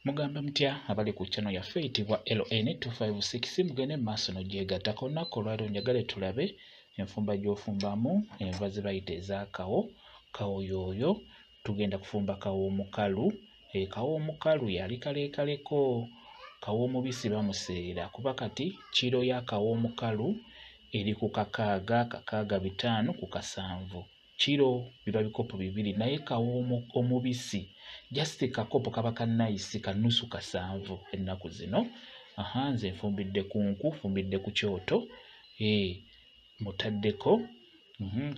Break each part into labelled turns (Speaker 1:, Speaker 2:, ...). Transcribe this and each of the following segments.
Speaker 1: mugamba mutya abali ku channel yaffe eyitibwa ln 256 mugende mu maaso nogyegattako olunaku olwali onjagale tulabe enfumba gyofumbamu enva zebayita ezakawo kawo yooyo tugenda kufumba kawo omukalu e, kawo omukalu yali kalekaleko kawo omubisi bamuseera kuba kati kiro ya kawo omukalu eri ku kakaaga kakaaga bitaano ku kasanvu kiro biba bikopo bibiri naye kawa omubisi just kakopo kaba ka nice kanusu kasanvu ennaku zino aha nze nfumbidde ku nku nfumbidde ku kyoto ee mutaddeko mhm,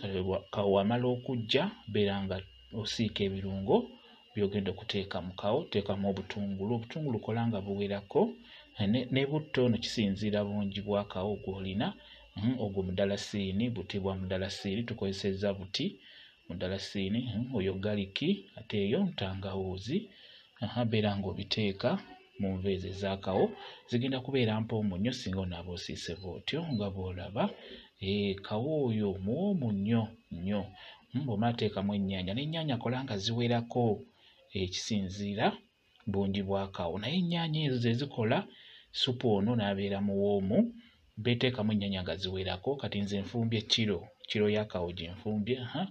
Speaker 1: kawamala okujja beera nga osiika ebirungo byogenda okuteeka mu kawo teekamu obutungulu obutungulu kola nga buwerako ne butto no kisinziira bungi bwa kawo gwolina hmm, ogwo mudalasiini buti bwa mudalasiini tukozesezza buti mudalasiini hmm, oyo galiki ate eyo ntangawuuzi beera ng'obiteeka mu nva ezo ezakawo zigenda kubeera mpoomu nnyo singa onaaba osiiseva otyo nga bw'olaba eh, kawo oyo muwoomu nnyo nnyo hmm, bw'omala teekamu ennyaanya n'ennyaanya kola nga ziwerako ekisinziira bungi bwakawo naye ennyaanya ezo ze zikola supu ono n'abeera muwoomu beteekamu ennyaanya nga ziwerako kati nze nfumbye kiro kiro yakawo gye nfumbye ha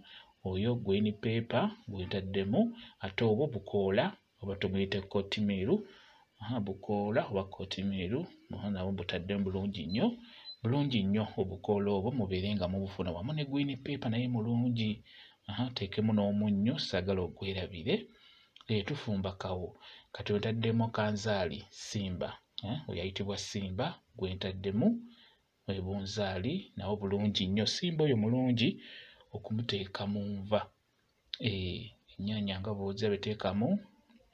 Speaker 1: oyo gweni peepa gwentaddemu ate obwo bukoola oba tumuyite kotimiiru bukoola oba kotimiiru nabo butadde bulungi nnyo bulungi nnyo obukoola obwo mubeere nga mubufuna wamu ne gwini peepa naye mulungi teekemu n'omunnyo saagala ogwerabire eh, tufumba kawo kati wetaddemu kanzaali simba eh, oyayitibwa simba gwentaddemu ebunzaali nawo bulungi nnyo simba oyo mulungi okumuteeka mu nva eh, ennyaanya nga bwoza beteekamu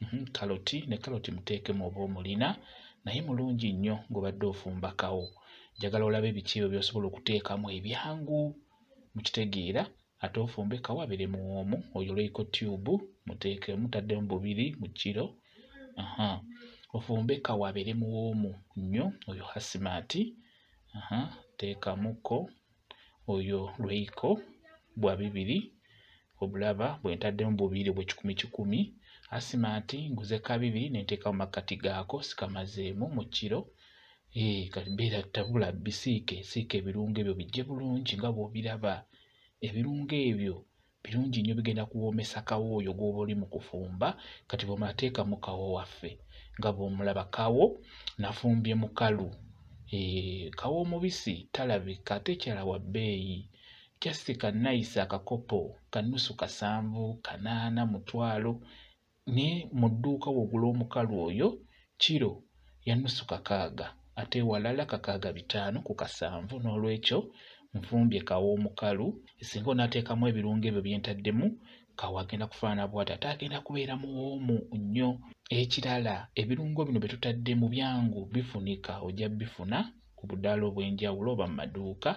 Speaker 1: mhm, kaloti ne kaloti muteekemu oba omulina naye mulungi nnyo ng'obadde ofumbakawo njagala olabe biki ebyo by'osobola okuteekamu ebyangu mukitegeera ate ofumbe kawabire mu omu oyoleeko tube muteeke mutaddemu bubiri mu kiro aha ofumbe kawabire mu omu nnyo oyo hasimaati aha teekamuko oyo lweiko bwa bibiri obulaba bwe ntaddemu bubiri obwekikumi kikumi hasimaati nguze ka bibiri ne nteeka mu makkati gaako sikamazeemu mu kiro ee eh, kati beera tabula bisiike siika ebirungo ebyo bijje bulungi nga bw'obiraba ebirungo ebyo birungi nnyo bigenda kuwoomesa kawo oyo gw'oba oli mu kufumba kati bw'omateeka mu kawo waffe nga bw'omulaba kawo nafumbye mukalu eh, kawo omubisi talabika ate ekyala wa bbeeyi jasika nayisa akakopo kanusu kasanvu kanaana mutwalo ne mu dduuka w'ogula omukalu oyo kiro ya nusu kakaaga ate ewalala kakaaga bitaano ku kasanvu n'olwekyo nfumbye kawa omukalu singa onaateekamu ebirungo ebyo bye ntaddemu kawa agenda kufaana bwati ate agenda kubeera muwoomu nnyo ekirala ebirungo bino bye tutadde mu byangu bifunika ojja bifuna ku budaala obw'enjawulo oba mu maduuka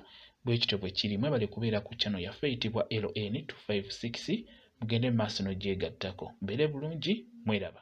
Speaker 1: bwe kityo bwe kiri mwebale kubeera ku kyano yaffe eyitibwa ln 256 mugende mu maaso n'ogyegattako mbeere bulungi mweraba